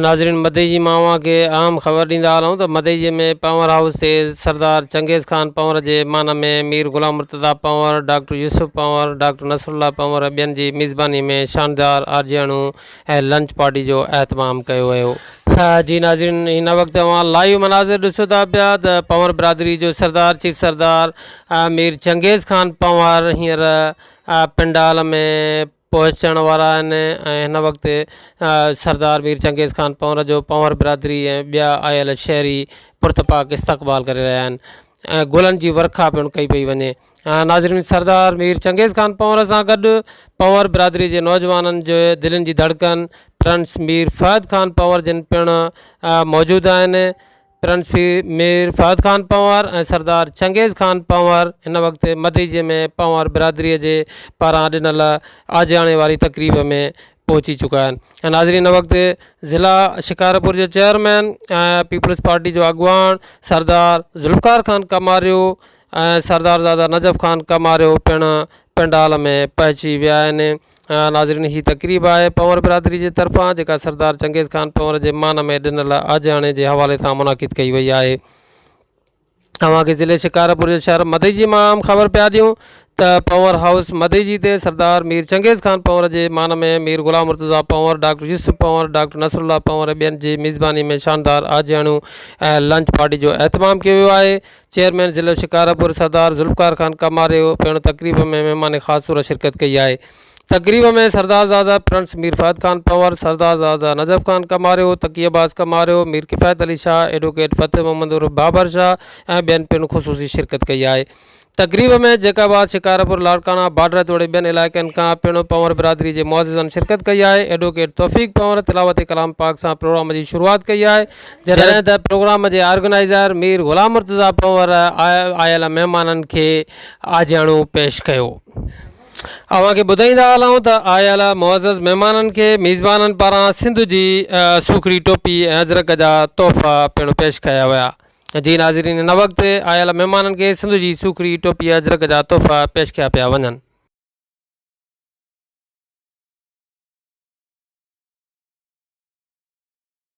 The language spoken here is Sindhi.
ناظرين مديجي مان اوهان کي اهم خبر ڏيندا هلون ته مديجي ۾ پنور هائوس تي سردار چنگيز خان پنور جي مهمان ۾ Mir Ghulam Murtaza Panhwar, doctor Yusuf Panhwar, doctor Nasrullah Panhwar ۽ ٻين جي ميزباني ۾ شاندار آجياڻو ۽ لنچ پارٽي جو اهتمام ڪيو ويو. جي ناظرين هن وقت اوهان لائيو مناظر ڏسو ٿا پيا ته پنور برادري جو سردار چيف سردار مير چنگيز خان پنور هينئر پنڊال ۾ پهچڻ وارا آهن ۽ هن وقت سردار مير چنگيز خان پنور جو پنور برادري ۽ ٻيا آيل شهري پرتپاڪ استقبال ڪري رهيا آهن ۽ گلن جي ورکا پڻ ڪئي پئي وڃي ناظرين سردار مير چنگيز خان پنور سان گڏ پنور برادري جي نوجوانن جو دلين جي ڌڙڪن پرنس مير فهد خان پنور جن پڻ موجود آهن پرنسپي مير فهد خان پنهور ۽ سردار چنگيز خان پنهور هن وقت مدئجي ۾ پنهور برادريء جي پاران ڏنل آجياڻي واري تقريب ۾ پهچي چڪا آهن ۽ ناظرين هن وقت ضلع شڪارپور جو چيئرمين ۽ پيپلز پارٽي جو اڳواڻ سردار ذوالفقار خان ڪماريو ۽ سردارزاده نجف خان ڪماريو پڻ پنڊال ۾ پهچي ويا آهن ناظرين هي تقريب آهي پنور برادري جي طرفان جيڪا سردار چنگيز خان پنور جي مان ۾ ڏنل آجياڻي جي حوالي سان منعقد ڪئي وئي آهي اوهان کي ضلعي شڪارپور جي شهر مديجي مان اهم خبر پيا ڏيون ته پنور هائوس مديجي تي سردار مير چنگيز خان پنور جي مان ۾ Mir Ghulam Murtaza Panhwar doctor Yusuf Panhwar doctor Nasrullah Panhwar ۽ ٻين جي ميزباني ۾ شاندار آجياڻيون ۽ لنچ پارٽي جو اهتمام ڪيو ويو آهي چيئرمين ضلعي شڪارپور سردار ذوالفقار خان ڪماريو پڻ تقريب ۾ مهمان خاص طور شرڪت ڪئي آهي تقريب ۾ سردارزاده پرنس مير فهد خان پنور سردارزاده نجف خان ڪماريو تقي عباس ڪماريو مير ڪفايت علي شاهه ايڊووڪيٽ فتح محمد عرف بابر شاهه ۽ ٻين پڻ خصوصي شرڪت ڪئي آهي تقريب ۾ جيڪب آباد شڪارپور لاڙڪاڻا بارڊر توڙي ٻين علائقن کان پڻ پنور برادري جي معززن شرڪت ڪئي آهي ايڊووڪيٽ توفيق پنور تلاوت ڪلام پاڪ سان پروگرام جي شروعات ڪئي آهي جڏهن ته پروگرام جي آرگنائيزر مير غلام مرتضيٰ پنور آيل مهمانن کي آجياڻو پيش ڪيو. اوهان کي ٻڌائيندا هلون ته آيل معزز مهمانن کي ميزبانن پاران سنڌ جي سوکڙي ٽوپي ۽ اجرڪ جا تحفا پڻ پيش ڪيا ويا. جي ناظرين هن وقت آيل مهمانن کي سنڌ جي سوکڙي ٽوپي ۽ اجرڪ جا تحفا پيش ڪيا پيا وڃن.